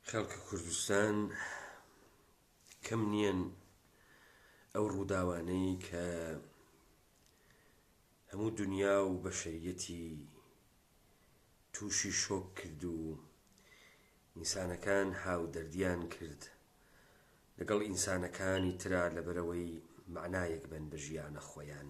خەڵکی کوردستان کەم نییەن ئەو ڕووداوانەی کە هەموو دنیا و بەشەریەتی تووشی شۆک کرد و ئینسانەکان هاودەردیان کرد لەگەڵ ئینسانەکانی تررا لەبەرەوەی معنایەک بن بە ژیانە خۆیان.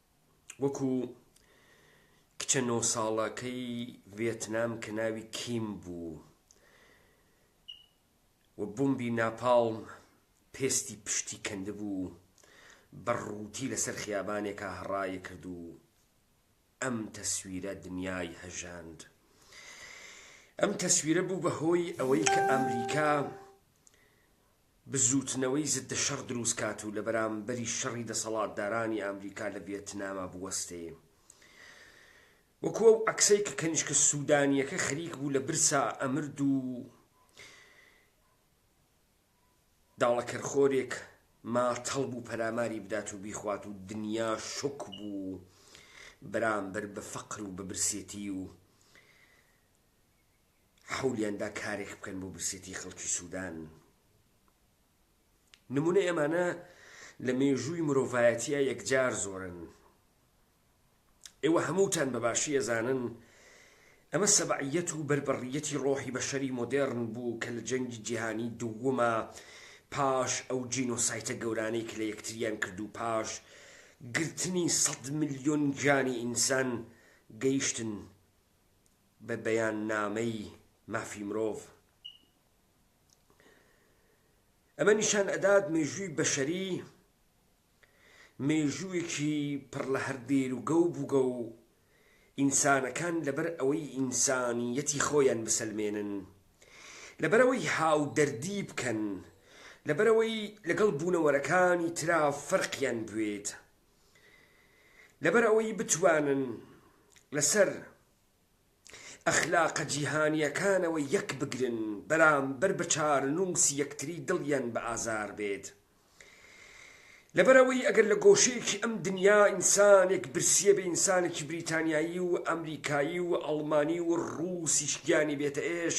وەکو کچە نۆ ساڵەکەی ڤێتنام کە ناوی کیم بوو و بومبی ناپاڵم پێستی پشتی کەندبوو بە ڕووتی لەسەر خیابانێکا هەڕای کرد و ئەم تەسویرە دنیای هەژاند. ئەم تەسویرە بوو بە هۆی ئەوەی کە ئەمریکا بزووتنەوەی زددە شەڕ دروست کات و لەبەرامبەری شەڕی دەسەڵاتدارانی ئامریکا لە ڤیەتناما بوەستێ وەکو ئەو عەکسەی کە کەنیشکە سودانیەکە خەریک بوو لە برسا ئەمرد و داڵەکەرخۆرێک ماتەڵ بوو پەلاماری بدات و بیخوات و دنیا شوک بوو بەرامبەر بە فەقر و بە برسێتی و حەولیان دا کارێک بکەن بۆ برسێتی خەڵکی سودان. نمونەی ئەمانە لە مێژووی مرۆڤایەتیە یەکجار زۆرن. ئێوە هەمووتان بە باشی ئەزانن ئەمە سەبعیەت و بەربڕیەتی ڕۆحی بەشەری مۆدێرن بوو کە لە جەنگی جیهانی دوومە پاش ئەو جینۆسایتە گەورانەی کە لە یەکتریان کرد و پاش گرتنی سەد ملیۆن گیانی ئینسان گەیشتن بە بەیاننامەی مافی مرۆڤ. ئەمە نیشان ئەدات مێژووی بەشەری مێژووێکی پڕ لە هەر دێروگە و بوگە و ئینسانەکان لەبەر ئەوەی ئینسانیەتی خۆیان بسەلمێنن، لەبەرەوەی هاودەردی بکەن، لەبەرەوەی لەگەڵ بوونەوەرەکانی ترا فەرقیان بوێت، لەبەر ئەوەی بتوانن لەسەر ئەخلاقە جیهانیەکانەوە یەک بگرن بەرامبەر بە چارەنووسی یەکتری دڵیان بە ئازار بێت لەبەر ئەوەی ئەگەر لە گۆشەیەکی ئەم دنیا ئینسانێک برسیە بێ ئینسانێکی بریتانیایی و ئەمریکایی و ئەڵمانی و ڕووسیش گیانی بێتە ئێش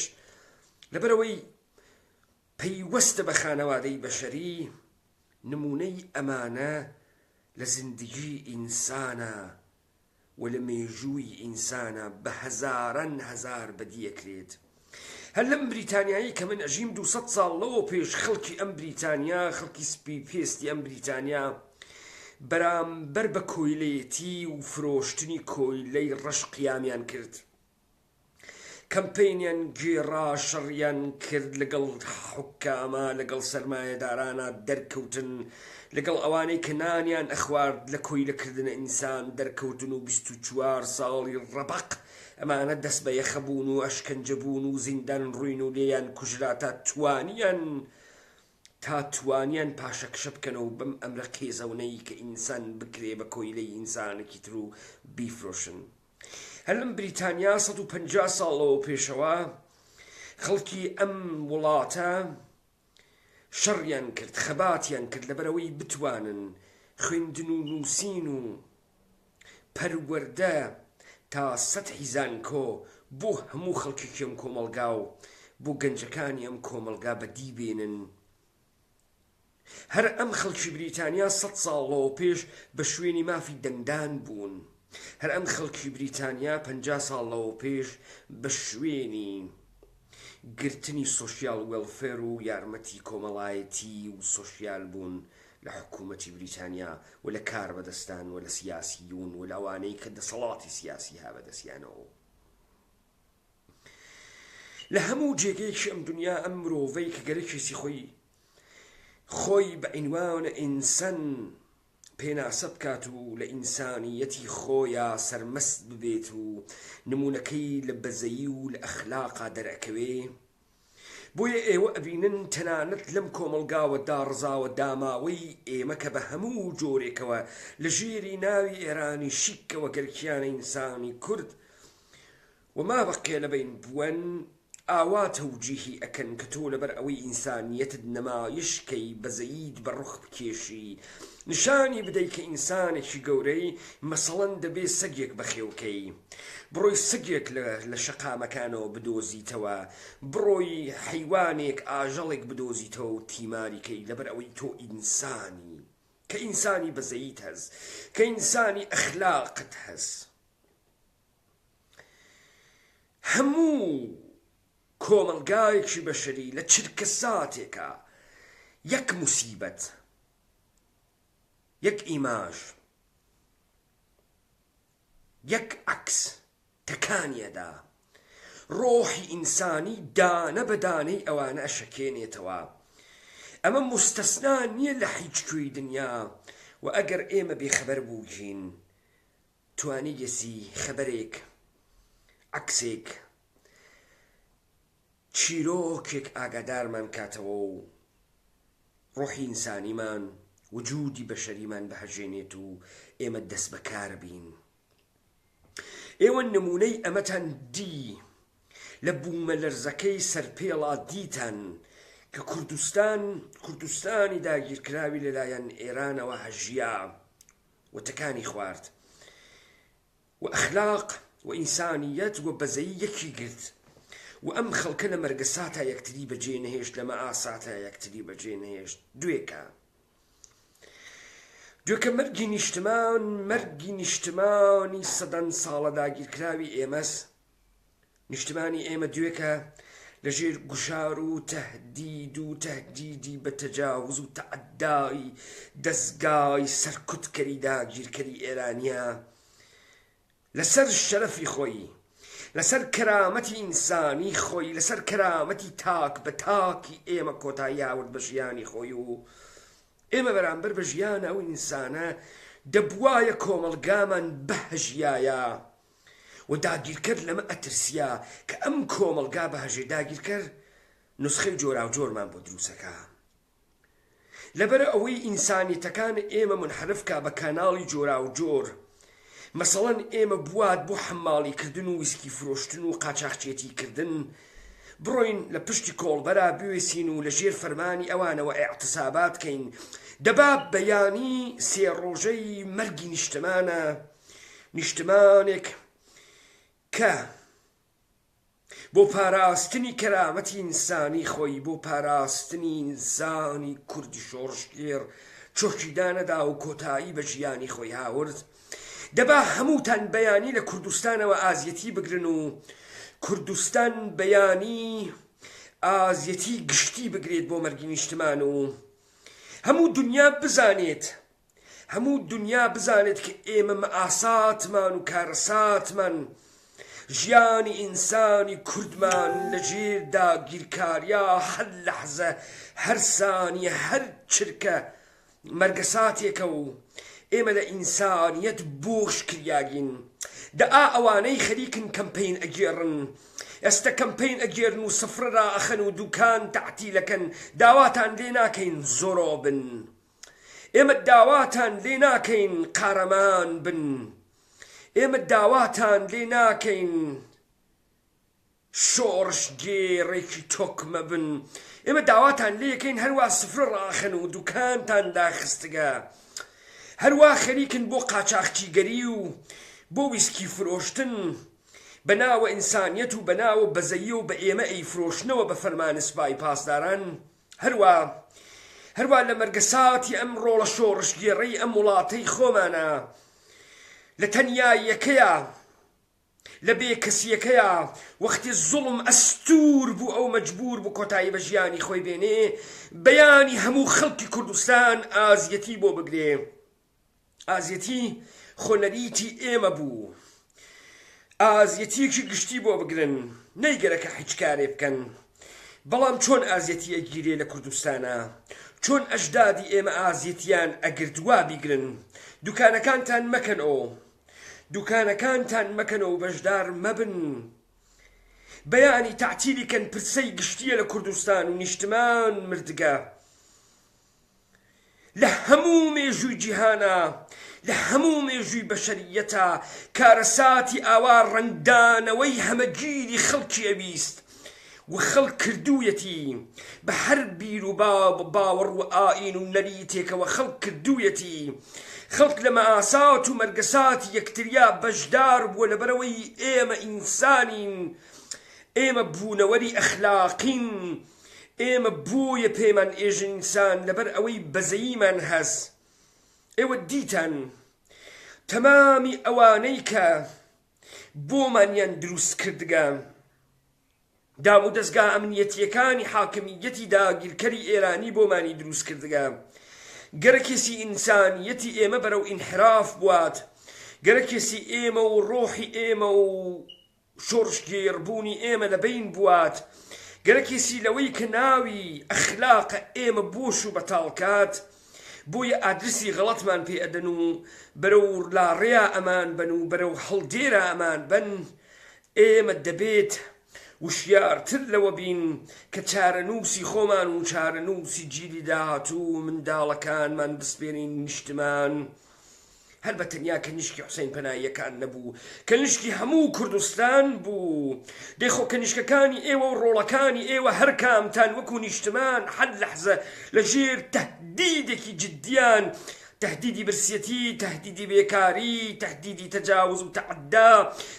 لەبەر ئەوەی پەیوەستە بە خانەوادەی بەشەری نمونەی ئەمانە لە زیندگی ئینسانە و لە مێژووی ئینسانا بە هەزاران هەزار بەدی ئەکرێت هەر لەم بریتانیایەی کە من ئەژیم دوو سەد ساڵ لەوە پێش خەڵکی ئەم بریتانیا خەڵکی سپی پێستی ئەم بریتانیا بەرامبەر بە کۆیلەیەتی و فرۆشتنی کۆیلەی ڕەش قیامیان کرد. کەمپەینیان گێڕا شەڕیان کرد لەگەڵ حوکاما لەگەڵ سەرمایەدارانا دەرکەوتن لەگەڵ ئەوانەی کە نانیان ئەخوارد لە کۆیلە کردنە ئینسان دەرکەوتن و بیست و چوار ساڵی ڕەبەق ئەمانە دەست بە یەخە بوون و ئەشکەنجە بوون و زیندان ڕوین و لێیان کوژرا تا توانیان تا توانیان پاشەکشە بکەنەوە بەم ئەمرە قێزەونەی کە ئینسان بکرێ بە کۆیلەی ئینسانەکی تر و بیفرۆشن. هەر لەم بریتانیا سەد و پەنجا ساڵ لەوە پێشەوە خەڵکی ئەم وڵاتە شەڕیان کرد خەباتیان کرد لەبەرەوەی بتوانن خوێندن و نووسین و پەروەەردە تا سەد حیزانکۆ بۆ هەموو خەڵکیکەم کۆمەلگا و بۆ گەنجەکانی ئەم کۆمەلگا بەدیبێنن هەر ئەم خەڵکی بریتانیا سەد ساڵ لەوە پێش بە شوێنی مافی دەنگدان بوون، هەر ئەم خەڵکی بریتانیا پەنجا ساڵ لەوە پێش بە شوێنی گرتنی سۆشیال وێڵفێر و یارمەتی کۆمەڵایەتی و سۆشیال بوون لە حکوومەتی بریتانیا و لە کاربەدەستان و لە سیاسیون و لە ئەوانەی کە دەسەڵاتی سیاسی ها بە دەستیانەوە و لە هەموو جێگەیەکی ئەم دونیا ئەم مرۆڤەی کە گەرەکێسی خۆی خۆی بە عینوان ئینسان پێناسە بکات و لە ئینسانیەتی خۆیا سەرمەست ببێت و نمونونەکەی لە بەزەیی و لە ئەخلاقا دەرەکەوێ بۆیە ئێوە ئەبینن تەنانەت لەم کۆمەڵگاوە داڕزاوە داماوەی ئێمە کە بە هەموو جۆرێکەوە لە ژێری ناوی ئێرانی شیکەوە گەل کیانە ئینسانی کورد و مابە قێلەبەین بوەن ئاوا تەوجیهی ئەکەن کە تۆ لەبەر ئەوەی ئینسانیەتت نەمایش کەی بەزەییت بە ڕوخ بکێشی نیشانی بدەی کە ئینسانێکی گەورەی مەسەڵەن دەبێ سەگێک بەخێوکەی بڕۆی سەگێک لە شەقامەکانەوە بدۆزیتەوە بڕۆی حەیوانێک ئاژەڵێک بدۆزیتەوە و تیماری کەی لەبەر ئەوەی تۆ ئینسانی کە ئینسانی بەزەیت هەز کە ئینسانی ئەخلاقت هەز هەموو کۆمەڵگایەکی بەشەری لە چرکەساتێکا یەک موسیبەت یەک ئیماژ یەک عەکس تەکانیەدا ڕۆحی ئینسانی دانە بە دانەی ئەوانە ئەشەکێنێتەوە ئەمە موستەسنا نییە لە حیچ کوێی دنیا و ئەگەر ئێمە بێخەبەر بووگین توانییسی خەبەرێک، عەکسێک، چیرۆکێک ئاگادارمان کاتەوە و ڕۆحی ئینسانیمان، وجودی بەشەریمان بهەژێنێت و ئێمە دەستبەکار بین. ئێوە نموونەی ئەمەتان دی لە بوومەلەرزەکەی سەرپێڵا دیتان کە کوردستان، کوردستانی داگیرکراوی لەلایەن ئێرانەوە هەژیا. و تکانی خوارد و ئەخلاق و ئینسانیەت و بەزەیی یەکی گرت و ئەم خەڵکە لە مەرگەساتا یەکتری بەجێ نەهێشت لە مەئاساتا یەکتری بەجێ نەهێشت دوێکە دوێکە مەرگی نیشتمان مەرگی نیشتمانی سەدان ساڵە داگیرکراوی ئێمەس نیشتمانی ئێمە دوێکە لەژێر گوشار و تهدید و تهدیدی بە تەجاوز و تەعدای دەزگای سەرکوتکەری داگیرکەری ئێرانە لەسەر شەرەفی خۆی لەسەر کەرامەتی ئینسانی خۆی لەسەر کەرامەتی تاک بە تاکی ئێمە کۆتاییاورد بە ژیانی خۆی و ئێمە بەرامبەر بە ژیان ئەو ئینسانە دەبواە کۆمەلگامان بەهژایە و داگیرکەر لەمە ئەترسیا کە ئەم کۆمەڵگا بهژێ داگیرکەر نوسخەی جۆراوجۆرمان بۆ دروسەکا لەبەرئەوەی ئینسانیتەکان ئێمە منحرف کا بە کاناڵی جۆراوجۆر مەسەڵەن ئێمە بوات بۆ حەماڵی کردن و ویسکی فرۆشتن و قاچاخچێتی کردن بڕۆین لە پشتی کۆڵبەرا بوێسین و لە ژێر فەرمانی ئەوانەوە ئاعتسابات کەین دەباب بەیانی سێ ڕۆژەی مەرگی نیشتمانە نیشتمانێک کە بۆ پاراستنی کەرامەتی ئینسانی خۆی بۆ پاراستنی ئینسانی کوردی شۆڕشگێڕ چۆکیدانەدا و کۆتایی بە ژیانی خۆی هاورد دەبا هەمووتان بەیانی لە کوردستانەوە ئازیەتی بگرن و کوردستان بەیانی ئازیەتی گشتی بگرێت بۆ مەرگی نیشتمان و هەموو دنیا بزانێت هەموو دونیا بزانێت کە ئێمە مەئاساتمان و کارەساتمان ژیانی ئینسانی کوردمان لە ژێر داگیرکاریا هەر لەحزە هەر سانیە هەر چرکە مەرگەساتێکە و ئێمە لە ئینسانیەت بۆش کریاگین دە ئا ئەوانەی خەریکن کەمپین ئەگێڕن ئێستا کەمپین ئەگێرن و سفرە ئەخەن و دوکان تەعتیلەکەن داواتان لێ ناکەین زۆرۆ بن. ئێمە داواتان لێ ناکەین قارەمان بن ئێمە داواتان لێ ناکەین شۆڕشگێڕێکی تۆکمە بن ئێمە داواتان لێکەین هەروا سفرە ڕاخن و دوکانتان داخستگە هەروا خەریکن بۆ قاچاخچیگەری و بۆ ویسکی فرۆشتن بە ناوە ئینسانیەت و بە ناوە بەزەیە و بە ئێمە ئەی فرۆشنەوە بە فەرمانسپای پاسداران و هەروا هەروا لە مەرگەساتی ئەم ڕۆڵە شۆڕشگێڕەی ئەم وڵاتەی خۆمانە لە تەنیاییەکەیا لە بێکەسیەکەیا وەختی زوڵم ئەستور بوو ئەو مەجبور بوو کۆتایی بە ژیانی خۆی بێنێ بەیانی هەموو خەڵکی کوردستان ئازیەتی بۆ بگرێ ئازیەتی خۆ نەریتی ئێمە بوو ئازیەتیەکی گشتی بۆ بگرن نەی گەرەکە حیچ کارێ بکەن بەڵام چۆن ئازیەتی ئەگیرێ لە کوردستانا چۆن ئەژدادی ئێمە ئازیەتیان ئەگرد وا بیگرن دوکانەکانتان مەکەن ئۆ دوکانەکانتان مەکەنەوە بەژدار مەبن بەیانی تەعتیلی کەن پرسەی گشتیە لە کوردستان و نیشتمان مردگە. لە هەموو مێژووی جیهانا، لە هەموو مێژووی بەشەرییەتا کارەساتی ئاوا ڕەنگدانەوەی هەمەگیری خەڵکی ئەویست و خەڵک کردوویەتی، بە هەر بیر و باوەڕ و ئایین و نەریتێکەوە خەڵک کردوویەتی. خەڵک لە مەئاسات و مەرگەساتی یەکتریا بەشدار بووە لەبەرئەوەی ئێمە ئینسانین، ئێمە بوونەوەری ئەخلاقین، ئێمە بۆیە پێمان ئێژنیسان لەبەر ئەوەی بەزەییمان هەس ئێوە دیتان تەمامی ئەوانەی کە بۆمانیان دروست کردگە دامودەزگا ئەمنیەتیەکانی حاکمیەتی داگیرکەری ئێرانی بۆمانی دروست کردگە گەرەکێسی ئینسانیەتی ئێمە بەرەو ئینحراف بوات گەرەکێسی ئێمە و ڕۆحی ئێمە و شۆڕش گێڕ بوونی ئێمە لە بەین بوات گەرەکیسی لەوەی کە ناوی ئەخلاقە ئێمە بۆش و بەتاڵ کات بۆیە ئادرسی غەڵەتمان پێ ئەدەن و بەرەو لاڕێیا ئەمان بەن و بەرەو هەڵدێرا ئەمان بەن ئێمە دەبێت وشیار تر لەوە بین کە چارەنووسی خۆمان و چارەنووسی جیلی داهاتوو و منداڵەکانمان بسپێرین نیشتمان. هەر بە تەنیا کەنیشکی حوسەین پەناییەکان نەبوو، کەنیشکی هەموو کوردستان بوو. دەی خۆ کەنیشکەکانی ئێوە و ڕۆڵەکانی ئێوە هەر کامتان وەکوو نیشتمان هەر لەحزە لە ژێر تەهدیدێکی جیددیان، تەهدیدی برسیەتی، تەهدیدی بێکاری، تەهدیدی تەجاوز و تەعدا،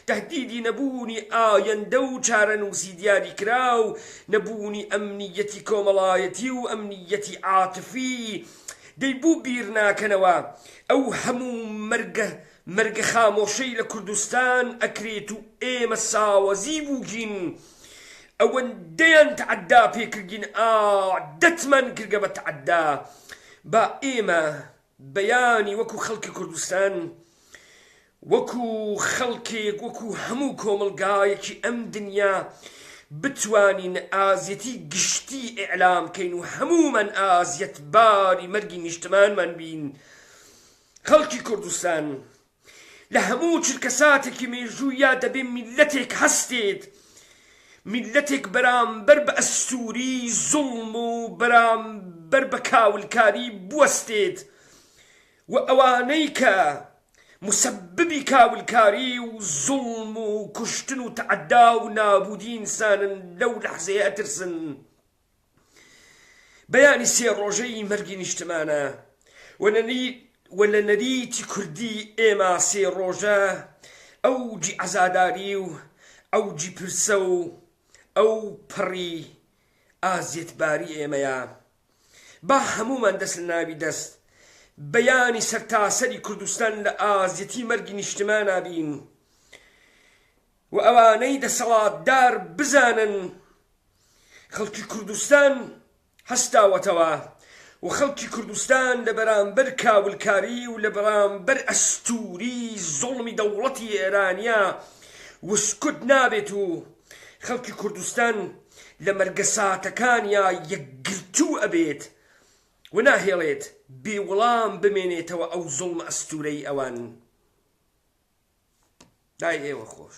تەهدیدی نەبوونی ئایەندە و چارەنووسی دیاریکراو، نەبوونی ئەمنییەتی کۆمەڵایەتی و ئەمنییەتی عاتفی، دەی بۆ بیرناکەنەوە ئەو هەموو مەرگە مەرگە خامۆشەی لە کوردستان ئەکرێت و ئێمە ساوەزی بووگین ئەوەندەیان تەعدا پێکردین ئا دەتمان کردگە بە تەعدا با ئێمە بەیانی وەکو خەڵکی کوردستان وەکو خەڵکێک وەکو هەموو کۆمەڵگایەکی ئەم دنیا بتوانین ئازیەتی گشتی ئیعلام کەین و هەموومان ئازیەتباری مەرگی نیشتمانمان بین خەڵکی کوردستان لە هەموو چرکەساتێکی مێژوویا دەبێ میللەتێک هەستێت میللەتێک بەرامبەر بە ئەستوری زوڵم و بەرامبەر بە کاولکاری بوەستێت و ئەوانەی کە موسەببی کاولکاری و زوڵم و کوشتن و تەعەدا و نابوودی ئینسانن لەو لەحزەیە ئەترسن بەیانی سێ ڕۆژەی مەرگی نیشتمانە و و لە نەریتی کوردی ئێمە سێ ڕۆژە ئەوجی عەزاداری و ئەوجی پرسە و ئەو پەڕی ئازیەتباری ئێمەیە با هەموومان دەست لە ناوی دەست بیانی سەرتاسەری کوردستان لە ئازیەتی مەرگی نیشتمانا بین و ئەوانەی دەسەڵاتدار بزانن خەڵکی کوردستان هەستاوەتەوە و خەڵکی کوردستان لە بەرامبەر کاولکاری و لە بەرامبەر ئەستوری زوڵمی دەوڵەتی ئێرانیا وسکوت نابێت و خەڵکی کوردستان لە مەرگەساتەکانیا یەکگرتوو ئەبێت و ناهێڵێت بێ وڵام بمێنێتەوە ئەو زوڵمە ئەستوورەی ئەوان دای ئێوە خۆش